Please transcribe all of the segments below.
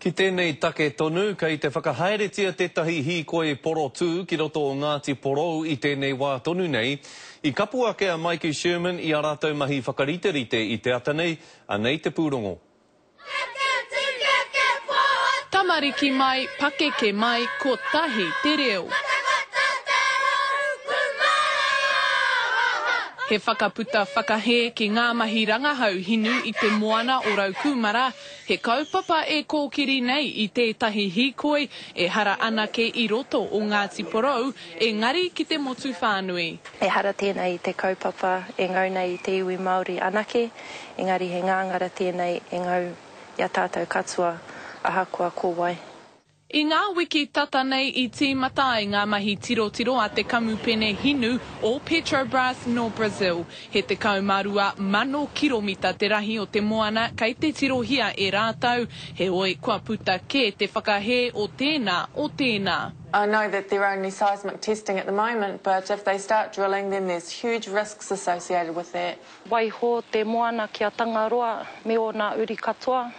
Ki tēnei take tonu, kei te whakahaeretia tētahi hīkoi porotū ki roto o Ngāti Porou i tēnei wā tonu nei. I kapo ake a Maiki Sherman i ā rātou mahi whakariterite i te ata nei, anei te pūrongo. Tamariki mai, pakeke mai, kotahi te reo. He whakaputa whakahē ki ngā mahi rangahau hinu i te moana o Raukūmara, He kaupapa e kōkiri nei i tētahi hīkoi ehara anake i roto o Ngāti Porou, engari ki te motu whānui. Ehara tēnei i te kaupapa e ngau nei i te iwi Māori anake, engari he ngāngara tēnei e ngau i a tātou katoa, ahakoa ko wai. I ngā wiki tata nei i tīmata ai ngā mahi tirotiro a te kamupene hinu o Petrobras nō Brazil. He 12,000 kiromita te rahi o te moana kei te tirohia e rātou, heoi kua puta kē te whakahē o tēnā, o tēnā. I know that they're only seismic testing at the moment but if they start drilling then there's huge risks associated with that. Waiho te moana ki a Tangaroa me ōna uri katoa.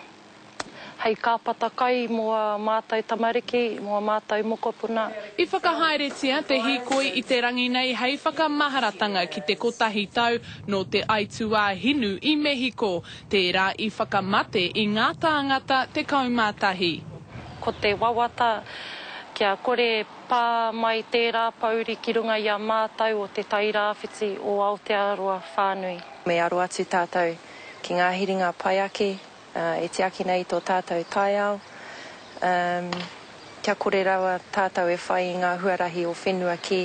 Hei kāpata kai mō ā mātou tamariki, mō ā mātou mokopuna. I whakahaeretia te hīkoi i te rangi nei hei whakamaharatanga ki te kotahi tau nō te aituā hinu i Mehiko, tērā i whakamate i ngā tāngata tekau mā tahi. Ko te wawata kia kore pā mai tērā pōuri ki runga i a mātou o Te Tai Rāwhiti o Aotearoa whānui. Me aro atu tātou ki ngā hiringa pai ake e tiaki nei i tō tātou taiao, kia kore rawa tātou e whai i ngā huarahi o whenua kē.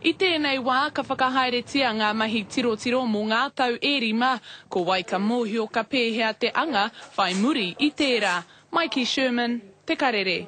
I tēnei wā, ka whakahaeretia ngā mahi tirotiro mō ngā tau e rima, ko wai ka mōhio ka pēhea te anga whai muri i tērā. Maiki Sherman, Te Karere.